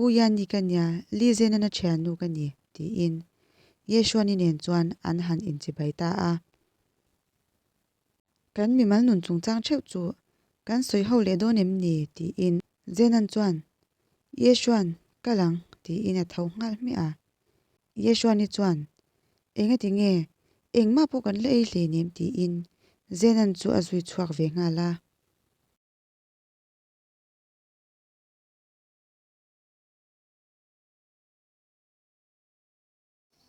Hu hian ni ka nia, Li Zena na thiannu ka ni, tiin Yeshua-ni nen chuan an han inchibai ta a. Kan mimal nun chungchang theuh chu kan sawi ho leh dawn em ni? tiin Zenan chuan, Yeshua'n kal ang, tiin a tho nghal hmiah a. Yeshua ni chuan, Enga ti nge? Engmah pawh kan la ei hlei nem? tiin Zenan chu a zui chhuak ve nghal a.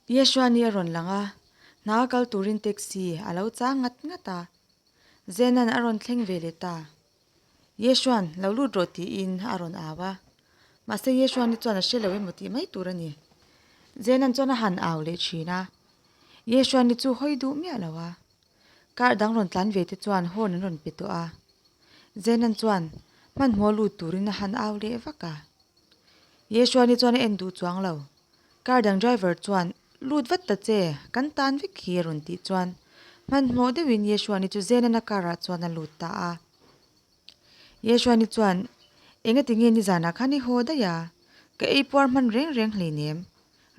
Yeshua nih a rawn lang a, hna a kal turin taxi a lo chang ngat ngat a. Zenan a rawn thleng ve leh ta. Yeshua'n, Lo lut rawh tiin a rawn au a. Mahse Yeshua nih chuan a hre lo emaw tih mai tur a ni. Zenan chuan a han au leh thin a. Yeshua nih chu hawi duh miah lo a. Car dang rawn tlan ve te chuan horn an rawn pe tawh a. Zenan chuan hmanhmawh lut turin a han au leh vak a. Yeshua nih chuan a en duh chuang lo. Car dang driver chuan, Lut vat ta che, kan tan vek hi, a rawn tih chuan, hmanhmawh deuhin Yeshua ni chu Zenana car-ah chuan a lut ta a. Yeshua ni chuan, Engati nge nizanah khan i haw daih a? Ka ei puar hman reng reng hlei nem,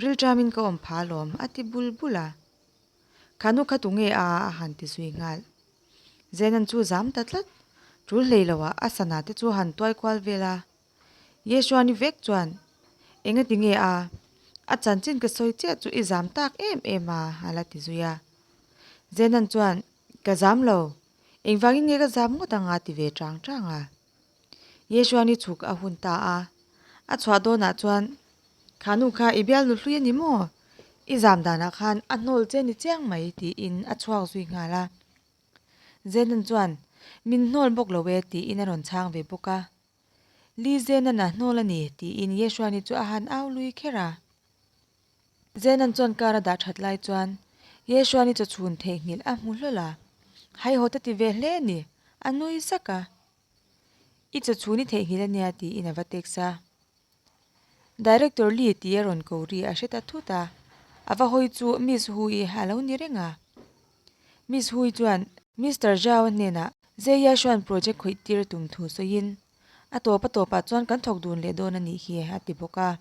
rilṭamin ka awm pha alawm, a ti bul bul a. Khanu kha tu nge a a a han ti zui nghal. Zenan chu zam ta tlat, ṭul hlei loah a sana te chu a han tuai kual vel a. Yeshuan i vek chuan, Engati nge a, a chanchin ka sawi chiah chu i zam tak em em a, a la ti zui a. Zenan chuan, Ka zam lo, engvangin nge ka zam ngawt ang a ti ve chang chang a. Yeshuan i chhuk a hun ta a, a chhuah dawnah chuan, Khanu kha i bialnu hlui a ni maw? I zam danah khan a hnawl che ni chiang mai tiin a chhuak zui nghal a. Zenan chuan, Min hnawl bawk lo e tiin a rawn chhang ve bawk a. Li Zenan a hnawl a ni, tiin Yeshua ni chu a han au lui kher a. Zenan chuan kar a dah that lai chuan Yeshua ni chaw chhun theih nghilh a hmu hlawl a, Hai haw ta ti ve hle a ni, a nui zak a. I chaw chhun i theih nghilh a nia, tiin a va text a. Director Lee tih a rawn ko ri a hre ta thut a, a va hawi chu Miss Hu-i a lo ni reng a. Miss Hu-i chuan. Mister Zhao hnenah Zeia Xuan project khawih tir tum thu sawiin, A tawp a tawp ah chuan kan thawk dun leh dawn a nih hi, a ti bawk a.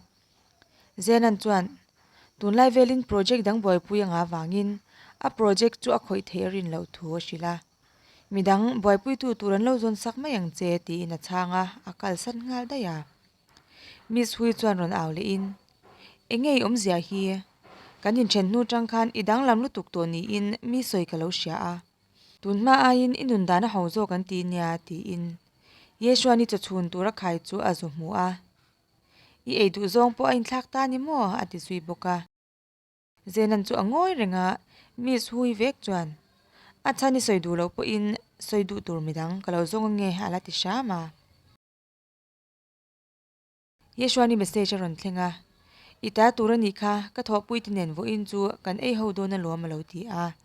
Zenan chuan, Tunlai velin project dang buaipui anga vangin a project chu a khawih theih rin loh thu a hrilh a. Midang buaipuitu tur an lo zawn sak mai ang che, tiin a chhang a, a kalsan nghal daih a. Miss Hui chuan rawn au lehin, Eng nge i awmzia hi? Kan inthen hnu chang khan i danglam lutuk tawh niin mi sawi ka lo hria a. Tun hma aiin i nun dan a ho zawk an ti nia, tiin Yesua ni chawchhun tura khai chu a zu hmu a. I ei duhzawng pawh a inthlak ta ni maw? a ti zui bawk a. Zenan chu a ngawi reng a, miss hui vek chuan, A chhan i sawi duh loh pawhin sawi duh tur mi dang ka lo zawng ange a la ti hram a. Yeshuan i message a rawn thleng a, I ta tur a nih kha ka thawhpuite nen vawiin chu kan ei ho dawn alawm a lo ti a.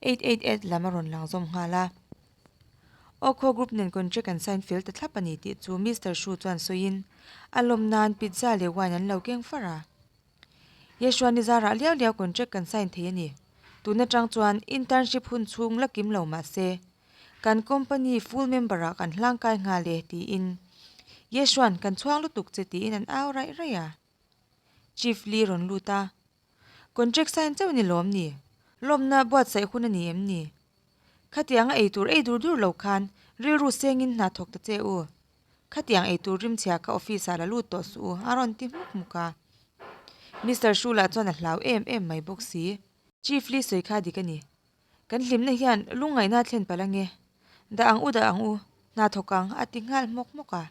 Eight eight eight lam a rawn lang zawm nghal a. Aw khaw group nen contract an sign fel ta thlap a ni tih chu Mister Hru chuan sawiin, A lawm nan pizza leh wine an lo keng far a. Yeshua nizara a liau liau contract kan sign thei a ni. Tun atang chuan internship hun chhung la kim lo mah se, kan company full member ah kan hlang kai nghal e tiin Yeshua'n kan chhuang lutuk che tiin an au raih raih a. Chief Lee rawn lut a, Contract sign chauh ni lawm ni? Lawmna buatsaih hun a ni em ni? Khatianga ei tur ei dur dur lo khan rilru sengin hna thawk ta che u. Khatiang ei tur rim chhia kha office ah la lut tawh suh u a rawn ti muk muk a. Mister Hru lah chuan a hlau em em mai bawk si. Chief Lee sawi kha dik a ni. Kan hlimna hian lungngaihna a thlen palh ange. Dah ang u dah ang u, hna thawk ang a ti nghal hmawk hmawk a.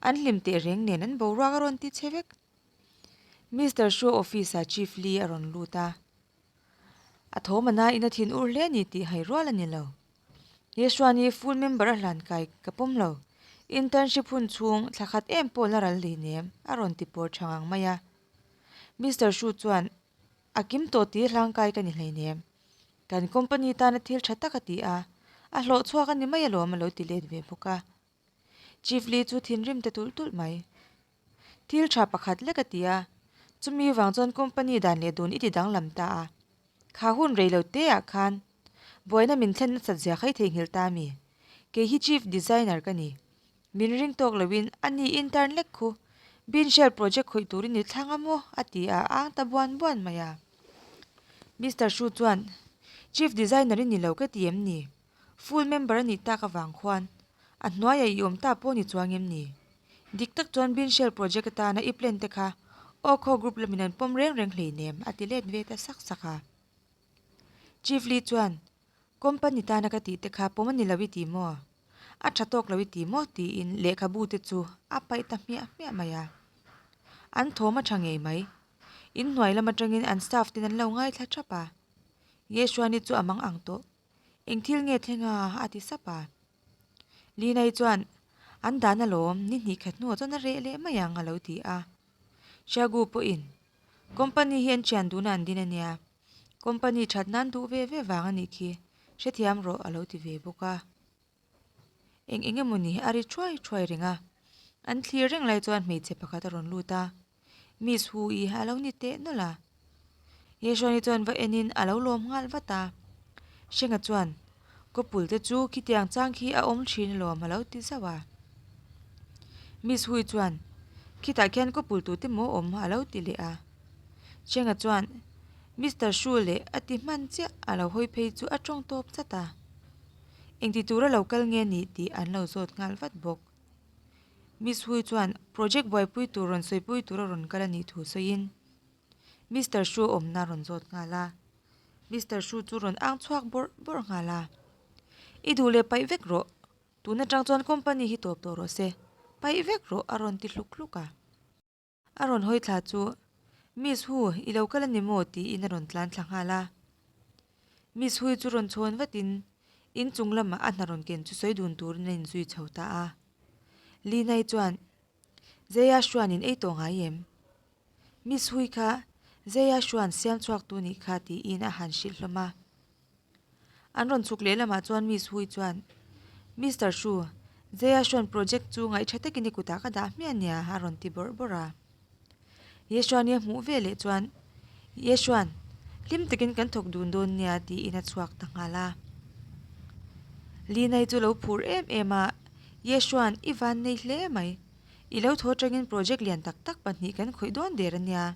An hlim teh reng nen an boruak a rawn ti che vek. Mister Hru office ah Chief Lee a rawn lut a. A thawmana ina thin ur hle ni tih hai rual a ni lo. Yeshuan hi full member a hlan kai ka pawm lo. Internship hun chhung thla khat em pawh la ral leh nem a rawn ti pawr tha ngang mai a. Mister Shu chuan, A kim tawh tih hi hlang kai ka ni hlei nem. Kan company tana thil tha tak a ti a. A hlawh chhuak a ni mai alawm a lo ti let ve bawk a. Chief Lee chu thinrim ta tulh tulh mai. Thil tha pakhat lek a ti a, chumi vang chuan company dan leh dun i ti danglam ta a, kha hun rei lo te ah khan buaina min thlen nasat zia khai theihnghilh ta mi? Kei hi chief designer ka ni. Min ring tawk lo in, a ni intern lek khu, bean shell project khawih tur i ni thlang a maw? a ti a ang ta buan buan mai a. Mister Hru chuan, Chief designer i ni lo ka ti em ni? Full member a nih tak avang khuan a hnuaia i awm ta pawh ni chuang em ni? Dik tak chuan Bin Shell Project atana i plan te kha Oko Group lamin an pawm reng reng hleinem a ti let ve ta sak sak a. Chief Lee chuan, Company tana ka tih te kha pawm a ni lo i ti maw? A tha tawk lo i ti maw? tiin lehkhabu te chu a paih ta hmiah hmiah mai a. An thawm a tha ngei mai. In hnuai lam atangin an staff ten an lo ngaithla thap a. Yeshuani chu a mang ang tawh. Eng thil nge thleng a? a ti sap a. Linai chuan, An dan alawm, ni hnih khat hnua chuan a reh leh mai ang, a lo ti a. Syagu pawhin, Company hi an thian duhna an din a nia, company that nan duh ve ve vang a nih khi, hrethiam rawh, a lo ti ve bawk a. eng eng emaw ni a ri thuai thuai reng a an thlir reng lai chuan hmeichhe pakhat a rawn lut a miss hu i a lo ni teh nawlh a he hrani chuan va en in a lo lawm nghal vat a hrenga chuan kawpul te chu khitiang chang khi a awm thin alawm a lo ti zauh a miss hu chuan khitah khian kawpul tu te maw awm a lo ti leh a hrenga chuan mister hru leh a ti hman chiah a lo hawi phei chu a tawng tawp zat a. Engti tur a lo kal nge ni tih an lo zawt nghal vat bawk. Miss Hui chuan project buaipui tur rawn sawipui tur a rawn kal a nih thu sawiin Mister Hru a awmna a rawn zawt nghal a. Mister Hru chu rawn ang chhuak bawrh bawrh nghal a, I duh leh paih vek rawh, tun atang chuan company hi tawp tawh rawh se, paih vek rawh a rawn ti hluk hluk a. A rawn hawi thla chu Miss Hu i lo kal a ni maw tiin a rawn tlan thla nghal a. Miss Hui chu rawn chhawn vatin in chung lamah a hna rawn ken chu sawi dun turin a inzui chho ta a. Linai chuan, Zeia Xuanin ei tawh ngai em? Miss Hui kha Zeia Xuan siamchhuaktu nih kha tiin a han hrilh hlawm a. An rawn chhuk lehlamah chuan Miss Hui chuan, Mister Hru, Jayaswan project chu ngaih tha takin i kutah ka dah hmiah nia a rawn ti bawrh bawrh a. Yashwan-i a hmuh vel leh chuan, Yashwan, hlim takin kan thawk dun dawn nia tiin a chhuak ta nghal a. Linai chu lo phur em em a, Yashwan, i vannei hle mai. I lo thaw atangin project lian tak tak pahnih kan khawih dawn der ania.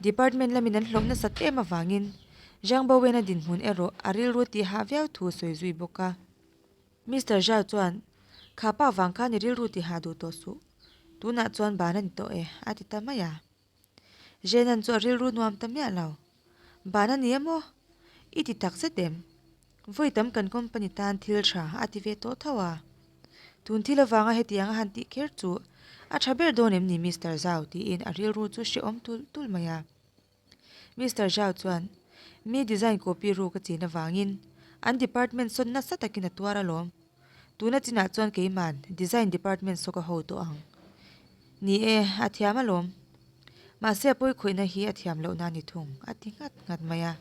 Department lamin an hlawh nasat em avangin Zhang Bowena dinhmun erawh a rilru tih hah viau thu a sawi zui bawk a. Mister Zhao chuan, Kha pa vang khan i rilru tih hah duh tawh suh. Tunah chuan ban a ni tawh e, a ti ta mai a. Zhenan chu a rilru nuam ta miah lo. Ban a nia maw? I ti takzet em? Vawi tam kan company tan thil tha a ti ve tawh tho a. Tun thil avanga hetiang a han tih kher chu a tha ber dawn em ni Mister Zhao tiin a rilru chu hrehawm tul tul mai a. Mister Zhao chuan mi design copy ru ka chin avangin an department sawn nasa takin a tuar alawm. Tuna chinah chuan keiman design department saw ka ho tawh ang. Ni e, a thiam alawm. Mahse a pawikhawihna hi a thiam loh na ni thung, a ti nghat nghat mai a.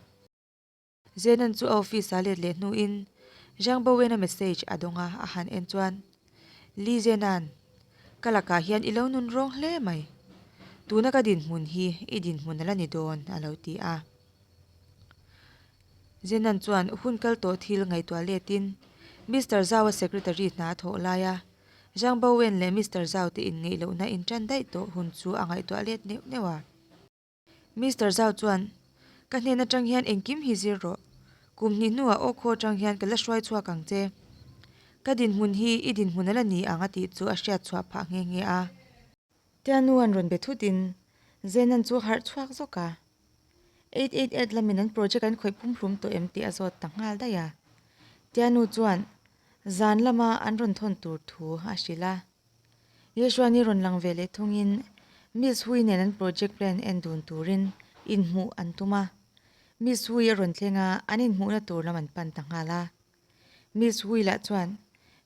Zenan chu a office ah let leh hnuin Zhang Bowena message a dawng a, a han en chuan, Li Zenan, ka lakah hian i lo nun rawng hle mai. Tuna ka dinhmun hi i dinhmun a la ni dawn, a lo ti a. Zenan chuan hun kal tawh thil ngaihtuah letin Mister Zaua secretary hna a thawh lai a, Zhang Baowen leh Mister Zhao te inngeihlohna in tan daih tawh hun chu a ngaihtuah let neuh neuh a. Mister Zhao chuan, Ka hnen atang hian engkim hi zir rawh. Kum hnih hnuah aw khaw atang hian ka la hruai chhuak ang che. Ka dinhmun hi i dinhmun a la ni ang a tih chu a hriat chhuah phah nghe nghe a. Tianu an rawn be thut in Zenan chu a harh chhuak zawk a, eight eight eight lamin an project an khawih pumhlum tawh em tih a zawt tak nghal daih a, Tianu chuan zan lama an rawn thawn tur thu a hrilh a. Yeshuani rawn lang ve leh thung in Miss Hui nen an project plan en dun turin inhmuh an tum a, Miss Hui a rawn thleng a, an inhmuhna tur lam an pan ta nghal a. Miss Hui lah chuan,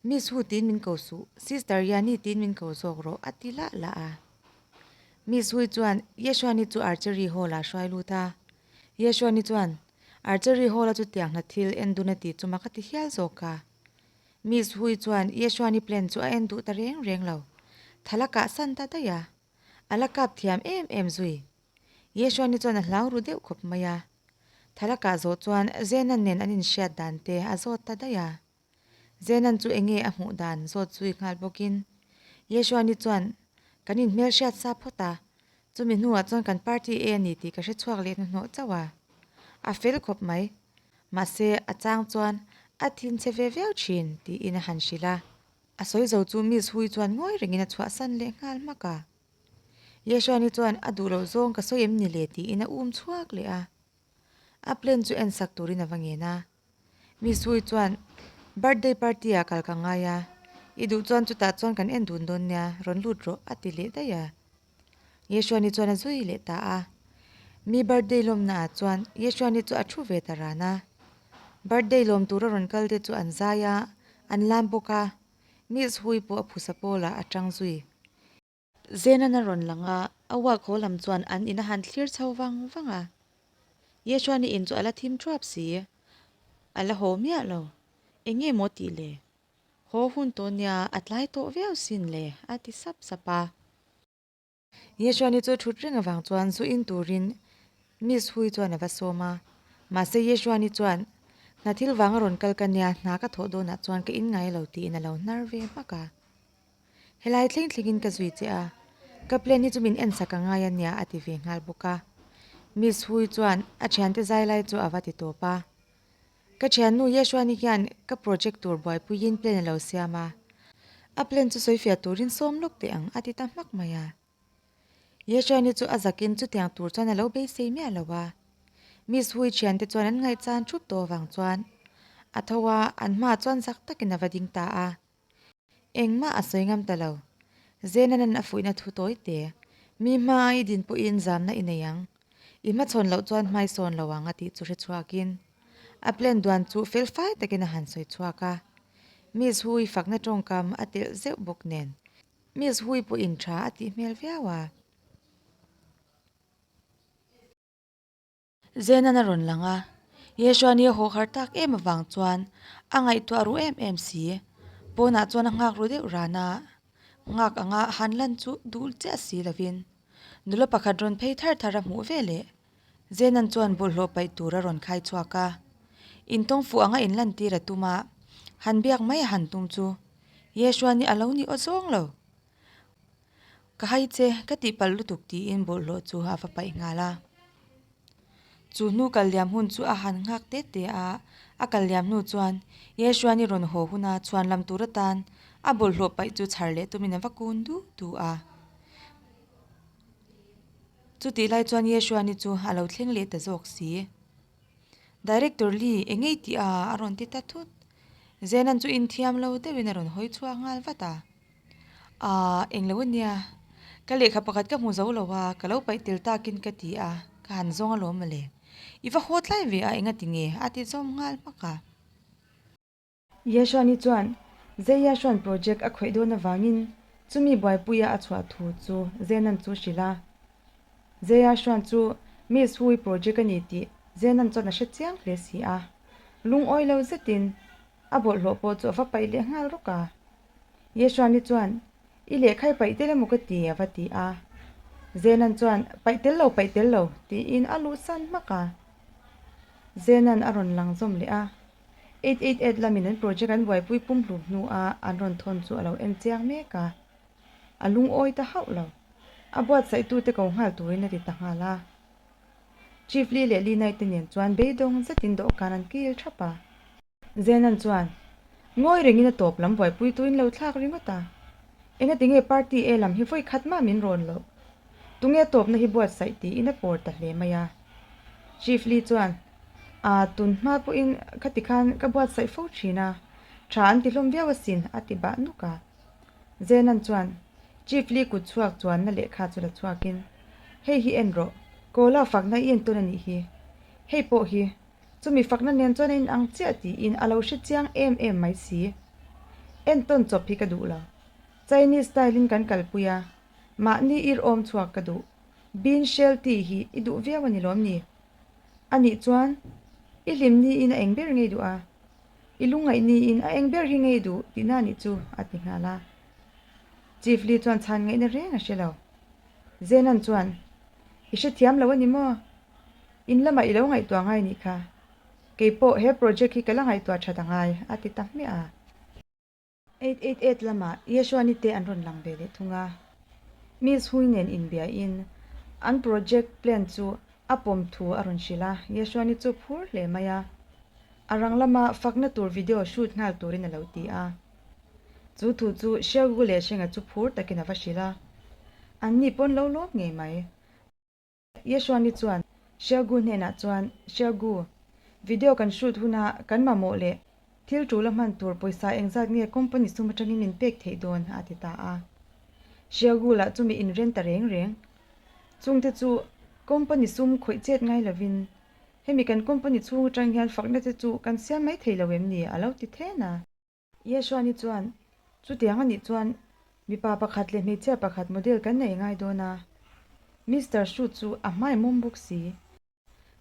Miss Hu tiin min ko suh, Sister Yani tiin min ko zawk rawh, a ti lah lah a. Miss Hui chuan Yeshuani chu Archery Hall-ah hruai lut a. Yeshuani chuan, Archery Hall-a chu tiang hna thil en dun a ti chu maka ti hial zawk a. Miss Hui chuan Yeshuani plan chu a en duh ta reng reng lo. Thal a kah san ta daih a. A la kap thiam em em zui. Yeshuani chuan a hlau ru deuh khawp mai a. Thalakah zawh chuan Zenan nen an inhriat dan te a zawt ta daih a. Zenan chu enge a hmuh dan zawt zui nghal bawkin Yeshua ni chuan, Kan inhmelhriat sa phawt a, chumi hnuah chuan kan party e a ni tih ka hrechhuak leh hnuhnawh chauh a. A fel khawp mai. Mahse, a chang chuan a thin che ve viau thin, tiin a han hrilh a. A sawi zo chu Miss Hui chuan ngawi rengin a chhuahsan leh nghal hmak a. Yeshua ni chuan, A duh loh zawng ka sawi em ni le? tiin a um chhuak leh a. A plan chu en sak turin a va ngen a. Misui chuan, Birthday party ah kal ka ngai a, i duh chuan chutah chuan kan en dun dawn nia, rawn lut rawh, a ti leh daih a. Yeshua ni chuan a zui leh ta a. Mi birthday lawmna ah chuan Yeshua ni chu a thu ve ta ran a. Birthday lawm tura rawn kalte chu an zai a, an lam bawk a. Nils Hui pawh a phusa pawlah a ṭang zui. Zenan a rawn lang a, a wall khaw lam chuan an in a han thlir chho vang vang a. Yeshuan-i in chu a la thim ṭuap si, a la haw miah lo. Eng nge maw tih le? Haw hun tawh nia, a tlai tawh viau sin le, a ti sap sap a. Yeshua ni chu thut reng avang chuan zu in turin Miss Hui chuan ava sawm a, mahse Yeshua ni chuan, Hna thil vang a rawn kal ka nia, hna ka thawh dawnah chuan ka inngai lo tiin a lo hnar ve hmak a. Helai thleng thlengin ka zui che a, ka plan hi chu min en sak angai a nia a ti ve nghal bawk a. Miss Hui chuan a thiante zai lai chu ava ti tawp a. Ka thiannu Yeshuani hian ka project tur buaipuiin plan a lo siam a, a plan chu sawifiah turin sawm lawk teh ang a ti ta hmak mai a. Yeshuani chu a zakin chutiang tur chuan a lo beisei miah lo a. Miss Hui thiante chuan an ngaihchan thup tawh avang chuan a tho a, an hma chuan zak takin a va ding ta a. Engmah a sawi ngam ta lo. Zena nan a fuihna thu tawi te. Mi hma a i din pawh in zamna i nei ang. I hmachhawn loh chuan hmai sawn lo ang a tih chu hre chhuak in a plan duan chu fel fai takin a han sawi chhuak a. Miss Hui fakna tawngkam a telh zeuh bawk nen Miss Hui pawh in tha a tih hmel viau a. Zenan a rawn lang a, Yeshua nia haw har tak em avang chuan, A ngaihtuah ru em em si. Pawnah chuan a nghak ru deuh ran a, nghak anga a han lan chu dul chiah si lovin, nula pakhat rawn phei thar thar a hmuh ve leh. Zenan chuan bawlhhlawh paih tur a rawn khai chhuak a, in tawng fuh anga in lan tir a tum a, han biak mai a han tum chu, Yeshua nia a lo ni aw zawng lo. Ka hai che, ka tihpalh lutuk tiin bawlhhlawh chu a va paih nghal a. Chu hnu kal liam hun chu a han nghak te te a. A kal liam hnu chuan Yeshuan i rawn haw huna chhuan lam tur atan a bawlhhlawh paih chu chhar leh tumin a va kun duh duh a. Chutih lai chuan Yeshuan i chu a lo thleng leh ta zawk si. Director Lee eng ngei tih a a rawn ti ta thut. Zenan chu inthiam lo deuhin a rawn hawi chhuak nghal vat a. Aah englo ania, ka lehkha pakhat ka hmu zo lo a, ka lo paih tel takin ka ti a, ka han zawng a lawm ale. I va haw tlai ve a enga ti nge? A ti zawm nghal hmak a. Yashuani chuan Zeiyashuan project a khawih dawn avangin chumi buaipuia a chhuah thu chu Zenan chu hrilh a. Zeiyashuan chu Miss Hu-i project a ni tih Zenan chuan a hre chiang hle si a. Lungawi lo zetin a bawlhhlawh pawh chu a va paih leh nghal rawk a, Yeshua ni chuan, I lehkhai paih tel emaw ka ti? a va ti a. Zenan chuan, Paih tel lo, paih tel lo, tiin a luhsan hmak a. Zenan a rawn lang zawm leh a. Eight eight eight lamin an project an buaipui pum hlu hnua an rawn thawn chu a lo en chiang mek a. A lungawi ta hauh lo. A buatsaitute ko nghal turin a ti ta nghal a. Chief Lee leh Lee Nai te nen chuan beidawng zetin dawhkan an kil thap a. Zenan chuan ngawi rengin a tawp lam buaipui tuin lo thlak ringawt a, Enga tinge party e lam hi vawi khat mah min rawn loh, tunge tawpna hi buatsaih tiin a pawr ta hle mai a. Chief Lee chuan, Ah, tun hma pawhin ka ti khan ka buatsaih fo thin a, tha an tihlawm viau asin, a ti bah nuk a. Zenan chuan Chief Lee kut chhuak chuanna lehkha chu la chhuakin, Hei hi en rawh. Kawla fakna i en tawn a nih hi. Hei pawh hi Chumi fakna nen chuan a inang chiah tiin a lo hre chiang em em mai si. En tawn chawp hi ka duh lo. Chinese style in kan kalpui a, mahni ir awm chhuak ka duh. Bean shell tea hi i duh viau a ni lawm ni? A nih chuan, I hlim niin a eng ber ngei duh a, i lu ngaih niin a eng ber hi ngei duh tihna a nih chu, a ti nghal a. Chief Lee chuan chhan ngaihna reng a hre lo. Zenan chuan, I hre thiam lo a ni maw? In lamah i lo ngaihtuah ngai nih kha. Keipawh he project hi ka la ngaihtuah that a ngai, a ti ta hmiah a. Eight eight eight lamah Yeshua ni te an rawn lang ve leh thung a. Mills Hui nen inbiahin an project plan chu a pawm thu a rawn hrilh a, Yeshua ni chu phur hle mai a. A rang lama fakna tur video shoot nghal turin a lo ti a. Chu thu chu Shergu leh Sheng-a chu phur takin a va hrilh a. An ni pawn lo lawm ngei mai. Yeshuani chuan Shergu hnenah chuan, Shergu, video kan shoot huna kan mamawh leh thil tul a hman tur pawisa engzat nge company sum atangin min pek theih dawn? a ti ta a. Shergu lah chumi inren ta reng reng. Chungte chu company sum khawih chet ngai lovin, Hemi kan company chhung atang hian fakna te chu kan siam mai thei lo em ni? a lo ti thlên a. Yeshua ni chuan, Chutiang a nih chuan mipa pakhat leh hmeichhia pakhat model kan nei ngai dawn a, Mister Shu chu a hmai mawm bawk si.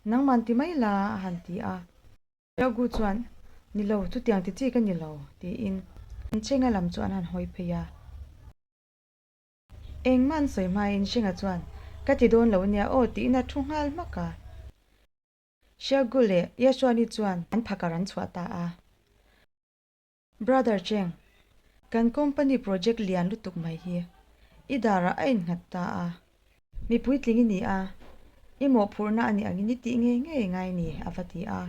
Nangman ti mai la a han ti a. Xiaogu chuan, Ni lo, chutiang ti chi ka ni lo, tiin an Sheng-a lam chu an han hawi phei a. Engmah an sawi hmain Sheng-a chuan, Ka ti dawn lo nia aw, tiin a thu nghal hmak a. Shergu leh Yeshua ni chuan an phakar an chhuah ta a. Brother Cheng, kan company project lian lutuk mai hi i darah a innghat ta a. Mipui tling i ni a, i mawhphurhna a ni angin i tih ngei ngei ngai ni, a va ti a.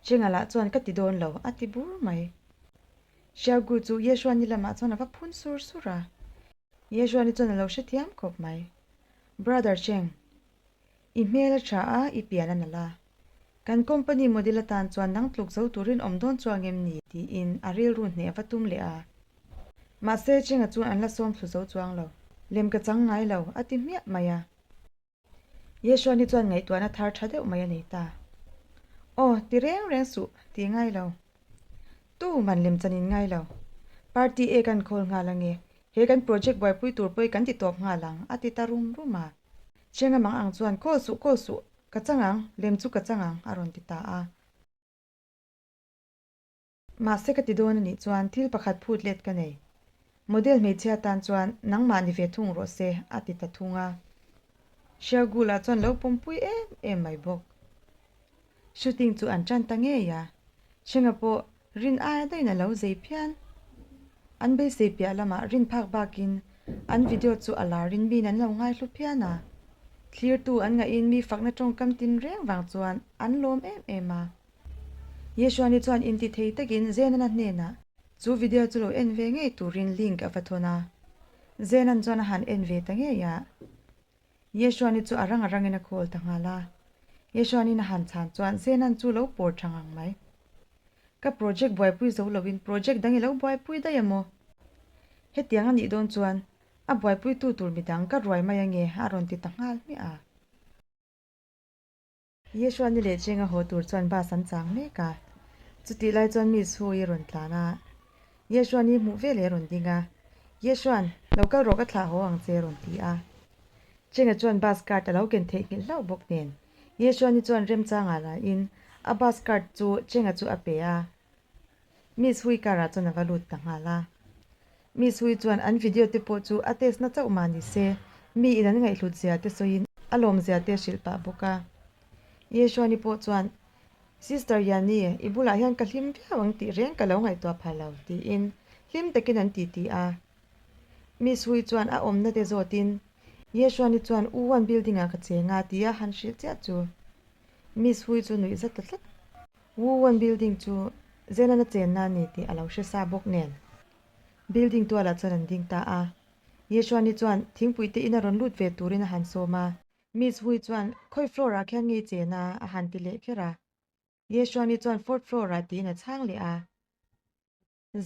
Cheng-a lah chuan ka ti dawn lo, a ti bur mai. Shergu chu Yeshua ni lamah chuan a va phun sur sur a. Yeshua ni chuan a lo hrethiam khawp mai. Brother Cheng, I hmel a tha a, i pian a nalh a. Kan company model atan chuan nang tluk zo turin awm dawn chu ang em ni? tiin a rilru hneh va tum leh a. Mahse, Cheng-a chuan an la sawm thlu zo chu ang lo. Lem ka chang ngai lo, a ti hmiah mai a. Yesua ni chuan ngaihtuahna thar tha deuh mai a nei ta. Aw, ti reng reng suh, ti ngai lo. Tu man lem chan in ngai lo. Party e kan call nghal ange. He kan project buaipui tur pawh e kan ti tawp nghal ang, a ti ta rum rum a. Cheng amang ang chuan, Kaw suh, kaw suh, ka chang ang, lem chu ka chang ang, a rawn ti ta a. Mahse ka ti dawn a nih chuan, thil pakhat phut let ka nei. Model hmeichhia tan chuan, Nangmah ni ve thung rawh se, a ti ta thung a. Shergul-a chuan lo pawmpui em em mai bawk. Shooting chu an tan ta ngei a, Chhenga pawh Rin aia deuhin a lo zei phian. An beisei piah lamah Rin phak bakin an video chu a la rin miin an lo ngai hlu phian a. Thlirtu an ngaihin mi fakna tawngkam tin reng vang chuan an lawm em em a. Yeshuani chuan intithei takin Zenana hnenah chu video chu lo en ve ngei turin link a va thawn a, Zenan chuan a han en ve ta ngei a. Yesua-ni chu a ranga rangin a call ta nghal a. Yesua-nin a han chhan chuan Zenan chu lo pawr tha ngang mai. Ka project buaipui zo loin project dang i lo buaipui daih a maw? Hetiang a nih dawn chuan a buaipuitu tur midang ka ruai mai ange a rawn ti ta nghal hmiah a. Isua ni leh cheng a haw tur chuan bus an chang mek a, chutih lai chuan mi su i rawn tlan a, Isua ni hmuh veleh a rawn ding a, Isua'n, Lo kal rawh ka thlah haw ang che a rawn ti a. Cheng-a chuan bus cart a lo ken theih nghilh hlauh bawk nen, Isua ni chuan remchanga lain a bus cart chu Cheng-a chu a pe a. Miss Hui karah chuan a va lut ta nghal a. Miss Hui chuan an video te pawh chu a test na chauh mah ni se, mi in an ngaihhlut zia te sawiin a lawm zia te a hrilh pah bawk a. Yeshuani pawh chuan, Sister Yanni, i bulah hian ka hlim viau ang tih reng ka lo ngaihtuah pha lo, tiin hlim takin an titi a. Miss Hui chuan a awmna te zawtin, Yeshuani chuan U one building ah ka cheng a tia han hrilh chiah chu. Miss Hui chu nuih zat ta tlat. Wu Wan building chu Zenan a chenna a ni tih a lo hre sa bawk nen, building tualah chuan an ding ta a. Ye Xuani chuan thingpui te in a rawn lut ve turin a han sawm a. Miss Hui chuan khawi floor ah khian ngei chen a, a han ti leh kher a. Ye Xuani chuan fourth floor ah tiin a chhang leh a.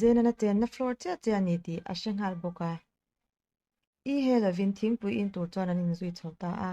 Zenan a chenna floor chiah che a ni tih a hre nghal bawk a. I he lovin thingpui in tur chuan an inzui chho ta a.